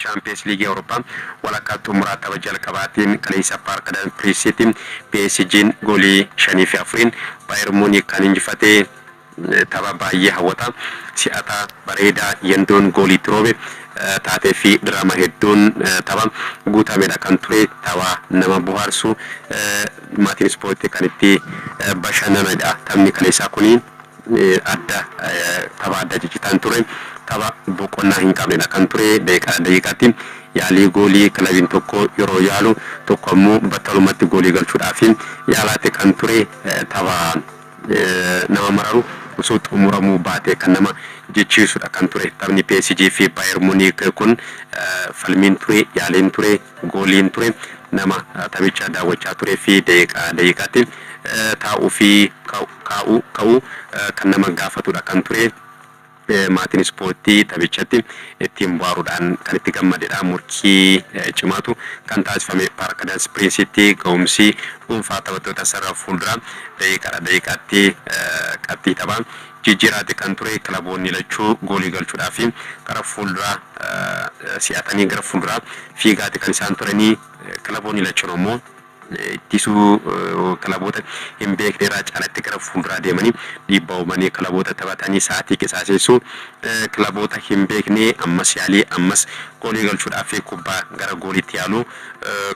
Chaampiyeens Liigii Awurooppaa walakkaa xumuraa tapha jalqabaatiin kaleessa Paark de Piriisitti PSG'n goolii 5 fi 4'n Baayer Muuniik kan injifate tapha baayyee hawwataa, si'ataa, bareedaa, yandoon goolii itti roobe, taatee fi diraama hedduun tapha guutamedha kan ture, tapha nama bohaarsu, maatiin ispoortii kan itti bashannanidha taphni kaleessaa kuni. adda tapha adda ciccitaan ture tapha boqonnaa hin qabnedha kan ture daqiiqaa daqiiqaatti yaalii goolii kilabiin tokko yeroo yaalu tokko ammoo battalumatti goolii galchuudhaaf yaalaatti kan ture tapha nama mararu osoo xumuramuu baatee kan nama jechiisudha kan ture taphni PSG fi Bayer Munich kun falmiin ture yaaliin ture gooliin ture. Nama taphicha daawwachaa turee fi daqiiqaa daqiiqaatti taa'uu fi kaa'uu ka'uu kan nama gaafatudha kan ture. Maatiin ispoortii taphichatti ittiin bohaaruudhaan kan itti gammadedha. Morkii cimaatu kan taasifame Paark Dans Piriinsitti ga'umsi dhuunfaa taphattoota sarara fuulduraa daqiiqaadha daqiiqaatti qabxii taphaa Jijjiiraatti kan ture kilaboonni lachuu goolii galchuudhaafi gara fuulduraa si'atanii gara fuulduraa fiigaati kan isaan turanii kilaboonni lachuu ammoo ittisuu kilaboota hin beekne irraa caalatti gara fuulduraa deemanii dhiibbaa uumanii kilaboota taphatanii sa'aatii qisaaseessuu kilaboota hin beekne ammas yaalii ammas goolii galchuudhaafi kubbaa gara gooliitti yaaluu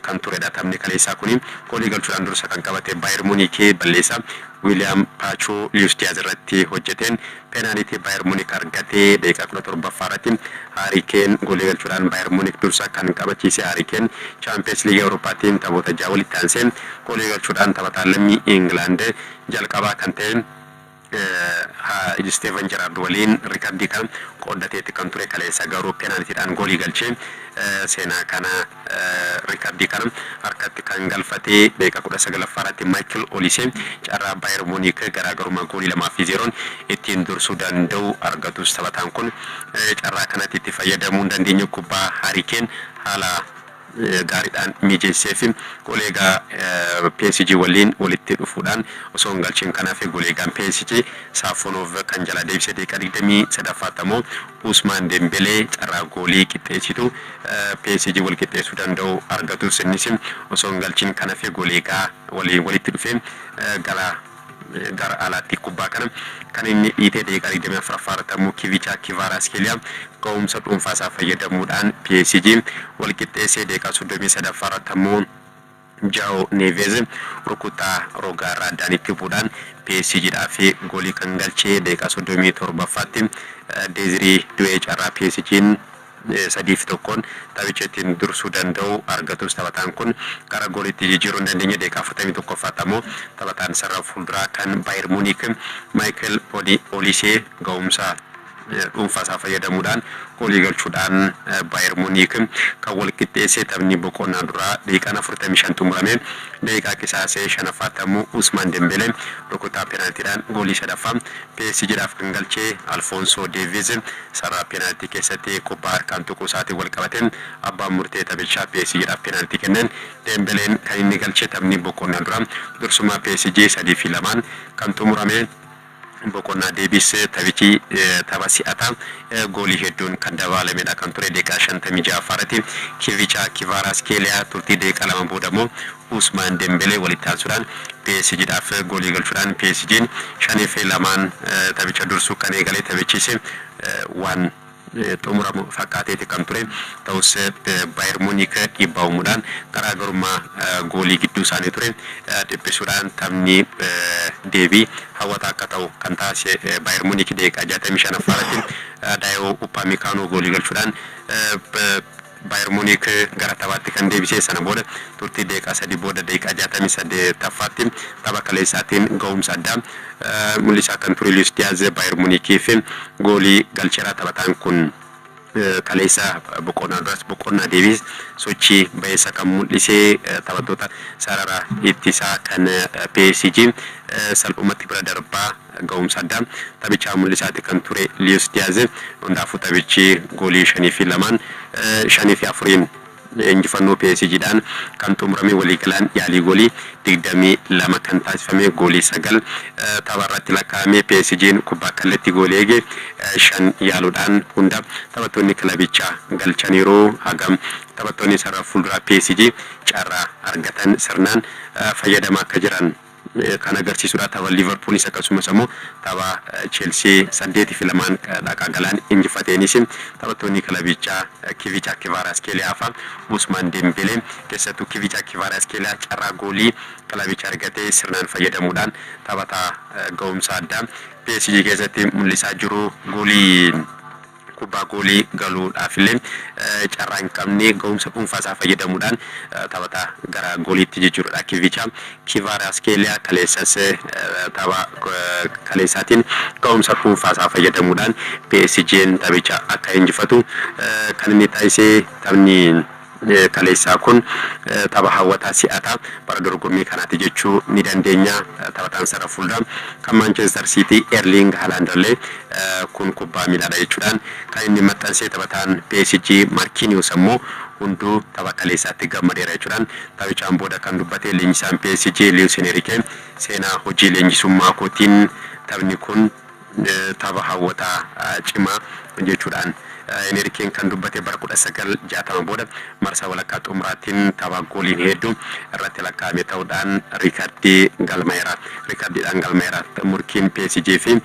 kan turedha taphni kaleessaa kuni goolii galchuudhaan dursa kan qabate Baayer Muuniikii balleessaa Wiliyaam Paachuu Luis Diyaaz irratti hojjeteen peenaaliitii Baayer Munik argate. Daqiiqaa 17ffaa irratti Haarii Keen goolii galchuudhaan Baayer Munik dursa kan qabachiise. Haarii Keen Chaampiyeens Liigii Awurooppaatiin taphoota ja'a walitti aansee goolii galchuudhaan taphataa lammii Ingilaand jalqabaa kan ta'e Isteevan Jeraard waliin rikardii kana qooddateetti kan ture kaleessa garuu peenaalitiidhaan goolii galchee seenaa kana Riikardii kana harkatti kan galfate daqiiqaa 19ffaa irratti Maayikil Olisee carraa Baayer Muuniik garaagarummaa goolii 2 fi 0n ittiin dursuu danda'u argatus taphataan kun carraa kanatti itti fayyadamuu hin dandeenye kubbaa Haarii Keen haala gaariidhaan mijeesseef goleegaa PSG waliin walitti dhufuudhaan osoo hin galchiin kan hafe goleegaan PSG Saafonoov kan jalaa deebise daqiiqaa 23ffaatti ammoo Usmaan Dembelee carraa goolii qixxeessitu PSG wal qixxeessuu danda'u argatus innis osoo hin galchin kan hafe Goleegaa waliin walitti dhufee gara gara alaatti kubbaa kana kan inni dhiite daqiiqaa 24ffaa irratti ammoo Kivicha Kvaratskhelia ga'umsa dhuunfaa isaa fayyadamuudhaan PSG wal qixxeesse daqiiqaa 33ffaa irratti ammoo Jao Neves rukuttaa rogaarraa addaan itti bu'uudhaan PSGdhaaf goolii kan galche daqiiqaa 37ffaatti Desiree Doué carraa PSGn 3 fi 1n taphicha ittiin dursuu danda'u argatus taphataan kun gara gooliitti jijjiiruu hin dandeenye daqiiqaa 41ffaatti ammoo taphataan sarara fuulduraa kan Bayer Munich Michael Olise ga'umsa dhuunfaa isaa fayyadamuudhaan goolii galchuudhaan Baayer Muniik kan wal qixxeesse taphni boqonnaa duraa daqiiqaan 45 xumurame. Daqiiqaa qisaasee shanaffaatti ammoo Usmaan Dembelee rukuttaa peenaaltiidhaan goolii sadaffaa PSGdhaaf kan galche Alfoonsoo Deeviiz sarara peenaaltii keessatti kubbaa harkaan tuquu isaatiin wal qabatee abbaan murtee taphichaa PSGdhaaf peenaaltii kenneen Dembeleen kan inni galche taphni boqonnaa duraa dursummaa PSG 3 fi 2n kan xumurame boqonnaa deebise. Taphichi tapha si'ataa goolii hedduun kan dabaalamedha kan ture. Daqiiqaa 56ffaa irratti Kivichaa Kivaaraaskeeliyaa, turtii daqiiqaa lama booda immoo Uusmaan Dembelee walitti aansuudhaan PSG dhaaf goolii galchuudhaan PSG'n 5 fi 2n taphicha dursu kan eegale. Taphichis waan. xumuramu fakkaateeti kan ture. Ta'us Bayer Muniik dhiibbaa uumuudhaan garaagarummaa goolii gidduu isaanii ture dhiphisuudhaan taphni deebii hawwataa akka ta'u kan taasise Bayer Muniik daqiiqaa 65ffaa irratti Daayoo Uppaamikaanoo goolii galchuudhaan Baayer Muniik gara taphaatti kan deebisee sana booda turtii daqiiqaa sadii booda daqiiqaa 68ffaatti tapha kaleessaatiin gahumsa addaa mul'isaa kan ture Luis Diaz Baayer Muniikiif goolii galcheera. Taphataan kun kaleessa boqonnaa duras boqonnaa deebiis sochii bayeessa kan mul'ise taphattoota sarara ittisaa kan PSG salphumatti bira darbaa Ga'umsa addaa taphichaa mul'isaati kan ture Liyus Diyaaz hundaafuu taphichi goolii 5 fi 2n, 5 fi 4n injifannoo PSG dhaan kan xumurame waliigalaan yaalii goolii 22 kan taasifame goolii 9 tapha irratti lakkaa'ame PSGn kubbaa kallattii goolii eege 5 yaaluudhaan hunda taphattoonni kilabichaa galchaniiru hagam taphattoonni sarara fuulduraa PSG carraa argatan sirnaan fayyadamaa akka jiran kan agarsiisudha. Tapha Liivarpuulis akkasumas ammoo tapha Cheelsii 8 fi 2n dhaqaa galaan injifateenis taphattoonni kilabichaa Kivicha Kivaaraaskeeliyaa fa Usmaan Dembelee keessattuu Kivicha Kivaaraaskeeliyaa carraa goolii kilabichi argate sirnaan fayyadamuudhaan taphataa ga'umsa addaa PSG keessatti mul'isaa jiru goolii kubbaa goolii galuudhaafillee carraa hin qabne gahumsa dhuunfaa isaa fayyadamuudhaan taphataa gara gooliitti jijjiiruudha Kivicha. Kivaaraaskeeliyaa kaleessas tapha kaleessaatiin gahumsa dhuunfaa isaa fayyadamuudhaan PSG'n taphicha akka injifatu kan inni taasise taphni kaleessaa kun tapha hawwataa si'ataa bara dorgommii kanaati jechuu ni dandeenya. Taphataan sarara fuulduraa kan Maanchester Siitii Erliing Halaandirlee kun kubbaa miilaadha jechuudhaan kan inni maxxansee taphataan PSG Markiiniyoos ammoo hunduu tapha kaleessaatti gammadeera jechuudhaan taphichaan booda kan dubbate leenjisaan PSG Liwuus Enerikee seenaa hojii leenjisummaa kootiin taphni kun Tapha hawwataa, cimaa jechuudhaan Heneri Keen kan dubbate bara 1960 booda marsaa walakkaa xumuraattin tapha gooliin heeddu irratti lakkaa'ame ta'uudhaan riikardii galmaa'eera. Riikardiidhaan galmaa'eera. Murkiin PSG fi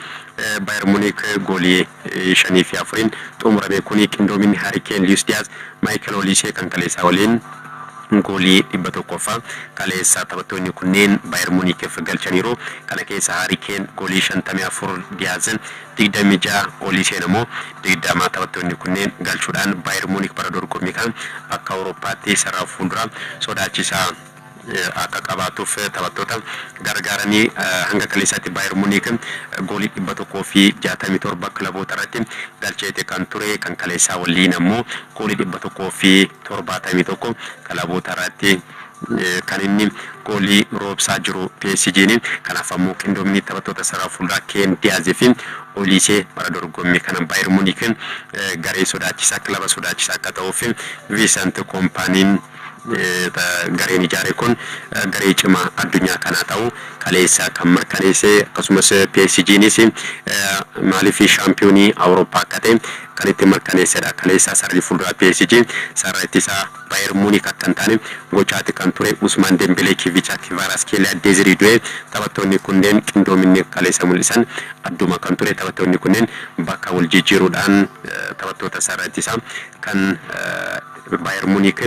Bayer Muniik goolii 5 fi 4n xumurame kuni qindoominni Hari Keen, Liyus Diyaaz, Maayikal Oliisee kan kaleessaa waliin. Goolii 100ffaa kaleessa taphattoonni kunneen Baayer Muunikiif galchaniiru. Kana keessa Haarii Keen goolii 54, Diyaaz 26, Ooliiseen ammoo 20 taphattoonni kunneen galchuudhaan Baayer Muunik bara dorgommii kana akka Awurooppaatti sarara fuulduraa sodaachisaa akka qabaatuuf taphattoota gargaaranii hanga kaleessaatti Baayer Muunik goolii 167 kilabootarratti galcheeti kan ture. Kan kaleessaa walliin ammoo Goolii 171 kilaboota irratti kan inni goolii roobsaa jiru PSGn. Kanaaf ammoo qindoomni taphattoota sarara fuulduraa Keen Diyaaz fi Oliisee bara dorgommii kana Baayer Muniik garee sodaachisaa, kilaba sodaachisaa akka ta'uuf Viisant Kompaaniin Gareen ijaare kun garee cimaa addunyaa kanaa ta'uu kaleessa kan mirkaneesse akkasumas PSGnis maaliif shaampiyoonii Awurooppaa akka ta'e kan itti mirkaneessedha. Kaleessa sararri fuulduraa PSG sarara ittisaa Bayer Munik akka hin taane gochaati kan ture. Usmaan Dembelee, Kivicha, Kvaaratskelia, Desiree Doué taphattoonni kunneen qindoominni kaleessa mul'isan adduma kan ture. Taphattoonni kunneen bakka wal jijjiiruudhaan taphattoota sarara ittisaa kan Baayer Muniik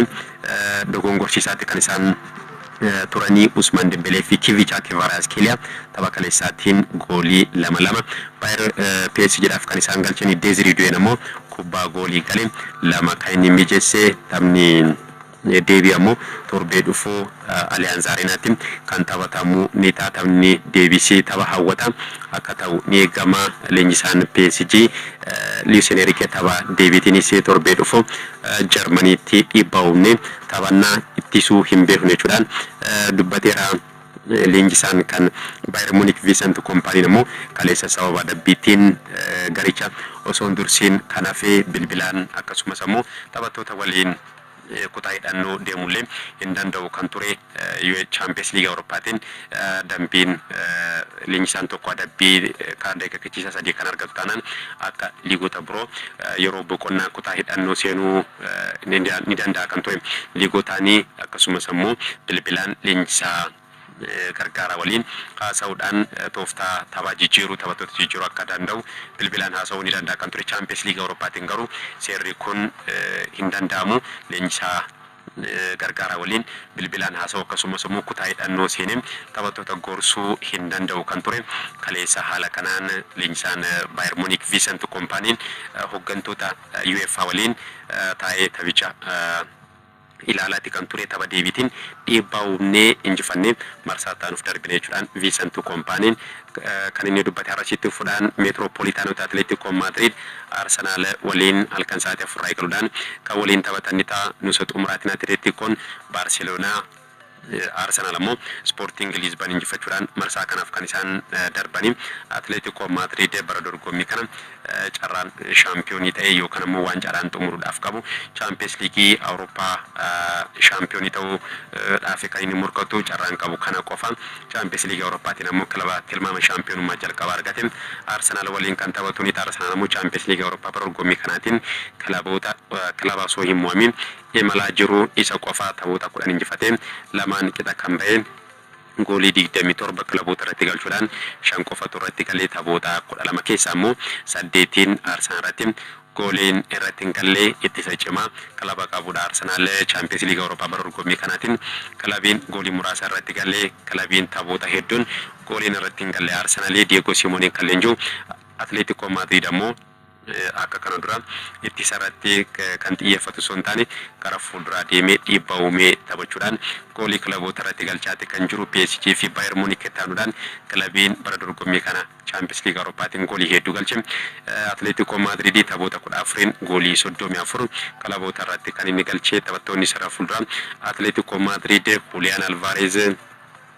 dogongorsiisaatti kan isaan turanii Usmaan Dembelee fi Kivichaa Kivaraazkelia tapha kaleessaatiin goolii lama lama. Baayer PSG dhaaf kan isaan galchanii Deezirii Duyeen ammoo kubbaa goolii gale lama kan inni mijeesse. Taphni deebii ammoo torbee dhufu. Aliyaanz Areenaatti kan taphatamu ni ta'a. Taphni deebisii tapha hawwataa akka ta'u ni eegama. Leenjisaan PSG Luis Enerike tapha deebiitiinis torbee dhufu Jarmaniitti dhiibbaa uumnee taphannaa ittisuu hin beeknu jechuudhaan dubbateera. Leenjisaan kan Bayer Munik Viisant Kompaaniin ammoo kaleessa sababa adabbiitiin garicha osoo hin dursiin kan hafe bilbilaan akkasumas ammoo taphattoota waliin kutaa hidhannoo deemullee hin danda'u kan ture UEFA Chaampiyeens Liigii Awurooppaatiin dambiin leenjisaan tokko adabbii kaardi akeekkachiisaa sadii kan argatu taanaan akka liigota biroo yeroo boqonnaa kutaa hidhannoo seenuu ni danda'a kan ture liigotaanii akkasumas ammoo bilbilaan leenjisaa gargaaraa waliin haasa'uudhaan tooftaa taphaa jijjiiruu, taphattoota jijjiiruu akka danda'u bilbilaan haasa'uu ni danda'a kan ture. Chaampiyeens Liigii Awurooppaatiin garuu seerri kun hin danda'amu. Leenjisaa gargaaraa waliin bilbilaan haasa'uu akkasumas immoo kutaa hidhannoo seenee taphattoota gorsuu hin danda'u kan ture. Kaleessa haala kanaan leenjisaan Baayer Muuniik Viisant Kompaaniin hoggantoota UEFA waliin taa'ee taphicha ilaalaati kan ture tapha deebiitiin dhiibbaa uumnee injifannee marsaa itti aanuuf darbine jechuudhaan Viisantu Kompaaniin kan inni dubbate. Har'as itti fufuudhaan Meetiroopoliitaanoota Atileetiko Maadriid Arsenaal waliin halkan sa'aatii 4:00 irraa eegaluudhaan kan waliin taphatan ni ta'a. Nuusa xumuraatiin Atileetikoon Baarseloonaa Arsenaal ammoo Ispoortiing Liizban injifachuudhaan marsaa kanaaf kan isaan darbani. Atileetikoo Maadriid bara dorgommii kana carraan shaampiyoonii ta'ee yookaan ammoo waancaadhaan xumuruudhaaf qabu Chaampiyees Liigii Awurooppaa shaampiyoonii ta'uu dhaafi kan inni morkatu carraan qabu kana qofa. Chaampiyees Liigii Awurooppaatiin ammoo kilaba tilmaama shaampiyoonummaa jalqabaa argate Arsenaal waliin kan taphatu ni ta'a. Arsenaal ammoo Chaampiyees Liigii Awurooppaa bara dorgommii kanaatiin kilaboota kilaba osoo hin mo'amiin imalaa jiru isa qofaa taphoota 10 injifatee lamaan qixa kan bahe goolii 27 kilaboota irratti galchuudhaan 5 qofatu irratti galee taphoota 12 keessaa ammoo 8n Arsenal irratti gooliin irratti hin galle ittisa cimaa kilaba qabudha Arsenal Champions League Awurooppaa bara dorgommii kanaatiin kilabiin goolii muraasa irratti galle kilabiin taphoota hedduun gooliin irratti hin galle Arsenal Diego Simonen kan leenji'u Atletico Madrid ammoo akka kana duraa ittisa irratti kan xiyyeeffatu osoo hin taane gara fuulduraa deemee dhiibbaa uumee taphachuudhaan goolii kilaboota irratti galchaati kan jiru PSG fi Bayer Munich itti aanuudhaan kilabiin bara dorgommii kana Champions League Awurooppaatiin goolii heedduu galche Atleetikoo Maadriid taphoota 14n goolii 34 kilaboota irratti kan inni galche taphattoonni sarara fuulduraa Atleetikoo Maadriid Huliyaan Alvaareez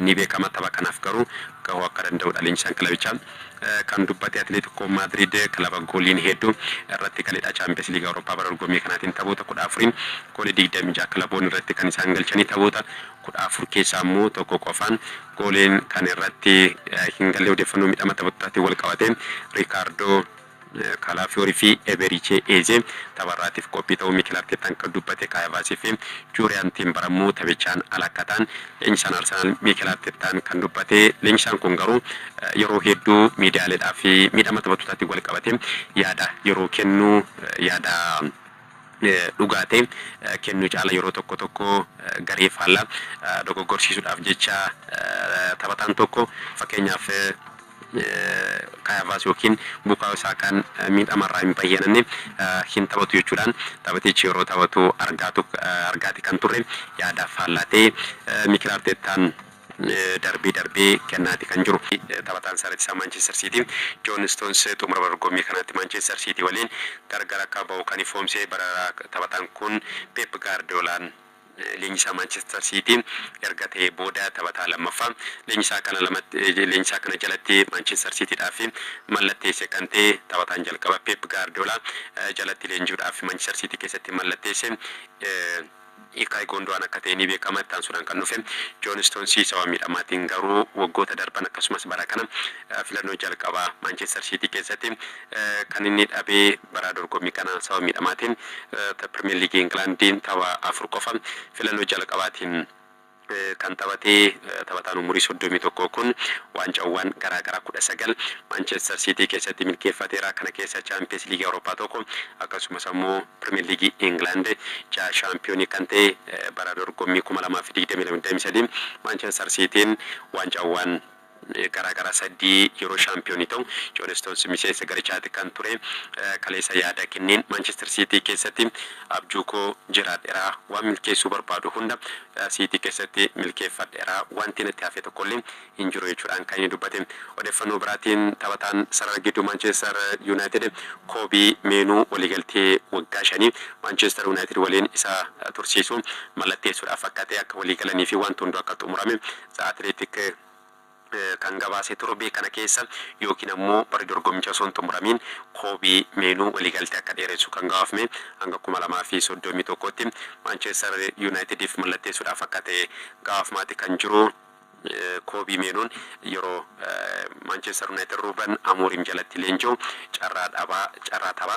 ni beekama. Tapha kanaaf garuu gahuu akka danda'udha leenjisaan kilabichaa kan dubbate. Atileetikoo Maadriid kilaba gooliin hedduu irratti galidha. Chaampiyeens Liigii Awurooppaa bara dorgommii kanaatiin taphoota 14n goolii 26 kilaboonni irratti kan isaan galchanii taphoota 14 keessaa immoo tokko qofaan gooliin kan irratti hin galle. Odeeffannoo miidhama taphattootatiin wal qabatee Riikaardoo Kaalaafiyoori fi Ebeerichee Eezee tapharraatiif qophii ta'uu Mikel Arteettaan kan dubbate Kaayevaasii fi Juuriyaan Tiimbar ammoo taphichaan ala akka ta'an leenjisaan Arsenaal Mikel Arteettaan kan dubbate. Leenjisaan kun garuu yeroo hedduu miidiyaaleedhaaf miidhama taphattootatiin walqabatee yaada yeroo kennu yaada dhugaa ta'e kennuu caala yeroo tokko tokko garee faallaa dogoggorsiisuudhaaf jecha taphataan tokko fakkeenyaaf Kaay Havaas ykn Bukaayoo Saakaan miidhama irraa hin bayyananne hin taphatu jechuudhaan taphatichi yeroo taphatu argaati kan turre yaadaaf faallaa ta'e Mikel Arteettaan darbee darbee kennaati kan jiru. Taphataan sarara ittisaa Maanchister Siitii Joon Istoons xumura bara dorgommii kanaatti Maanchister Siitii waliin gargar akka bahu kan ifoomse bara taphataan kun Peep Gaardiyoolaan. leenjisaa Maanchister Siitii erga ta'ee booda taphataa lammaffaa leenjisaa kana lamatti leenjisaa kana jalatti Maanchister Siitiidhaaf mallatteesse kan ta'e taphataan jalqaba Peep Gaardiyoolaa jalatti leenji'uudhaaf Maanchister Siitii keessatti mallatteesse Ilkaay Goonduwaan akka ta'e ni beekama. Itti aansuudhaan kan dhufe Joon Istoonsii sababa miidhamaatiin garuu waggoota darban akkasumas bara kana filannoo jalqabaa Maanchister Siitii keessatti kan inni dhabe Bara dorgommii kanaa sababa miidhamaatiin ta Pirmeer Liigii Ingilaandiin tapha afur qofa filannoo jalqabaatiin kan taphate taphataan umurii 31 kun waancaawwan garaa garaa 19 Maanchester Siitii keessatti milkeeffateera. Kana keessaa Chaampiyeens Liigii Awurooppaa tokko akkasumas ammoo Pirmeer Liigii Ingilaand jaha shaampiyoonii kan ta'e bara dorgommii 2022-23 Maanchester Siitiin waancaawwan Garaa garaa saddii yeroo shaampiyoonii ta'u Joon Stoons miseensa garichaati kan ture. Kaleessa yaada kenneen Maanchester Siitii keessatti abjuu koo jiraadhera. Waan milkeessuu barbaadu hunda Siitii keessatti milkeeffadhera. Waanti natti hafe tokkollee hin jiru jechuudhaan kan inni dubbate. Odeeffannoo biraatiin taphataan sarara gidduu Maanchester Yuunaayitid Koobii Meenuu waliigaltee waggaa shanii Maanchester Yuunaayitid waliin isa tursiisu mallatteessuudhaaf akka ta'e, akka waliigalaniifi waanti hunduu akka xumurame The Athletic kan gabaase torbee kana keessa yookiin ammoo bara dorgommicha osoo hin xumuramiin Koobii Meenuu waliigaltee akka dheeressu kan gabaafme hanga 2031tti Maanchester Yuunaayitidiif mallatteessuudhaaf akka ta'e gabaafmaati kan jiru Koobii Meenuun yeroo Maanchester Yuunaayitid Ruuben Amooriim jalatti leenji'u carraa dhabaa carraa tapha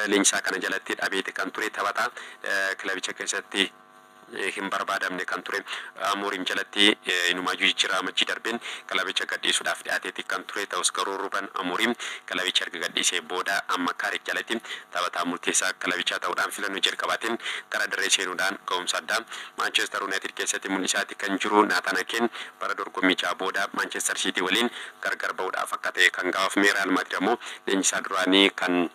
leenjisaa kana jalatti dhabeeti kan ture taphataa kilabicha keessatti hin barbaadamne kan ture Amorim jalatti inumaayyuu jijjiirraa Amajjii darbeen kilabicha gadhiisuudhaaf dhiyaateeti kan ture. Ta'us garuu Ruben Amorim kilabicha erga gadhiisee booda amma Carrick jalatti taphataa murteessaa kilabichaa ta'uudhaan filannoo jalqabaatiin gara dirree seenuudhaan ga'umsa addaa Manchester United keessatti mul'isaati kan jiru. Nathan Akeen bara dorgommii ja'a booda Manchester City waliin gargar ba'uudhaaf akka ta'e kan gabaafame. Real Madrid ammoo leenjisaa duraanii kan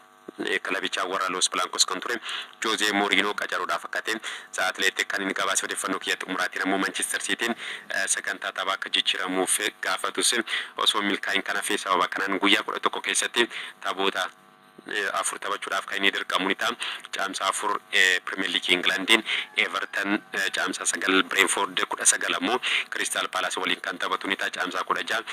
kilabichaa warra Los Blancos kan ture Jose Mourinho qacaruudhaaf akka ta'e The Athletic kan inni gabaase odeeffannoo kiyya xumuraatiin ammoo Manchester Cityn sagantaa taphaa akka jijjiramuuf gaafatus osoo hin milkaa'iin kan hafe sababa kanaan guyyaa 11 keessatti taphoota 4 taphachuudhaaf kan inni dirqamu ni ta'a. Caamsaa 4 Premier League England Everton Caamsaa 9 Brentford 19 ammoo Crystal Palace waliin kan taphatu ni ta'a. Caamsaa 16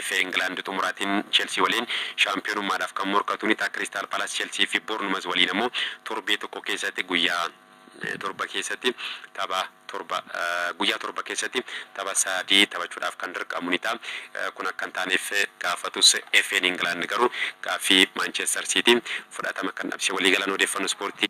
FA England xumuraatiin Chelsea waliin Shaampiyoonummaadhaaf kan morkatu ni ta'a Kiristaal Paalaas, Chelsii fi Boornmaz waliin ammoo torbee tokko keessatti guyyaa torba keessatti tapha torba guyyaa torba keessatti tapha sadii taphachuudhaaf kan dirqamu ni ta'a. Kun akka hin taaneef gaafatus FA'n Ingilaand garuu gaaffii Maanchester Siitii fudhatama kan dhabsiise waliigalaan odeeffannoo ispoortii.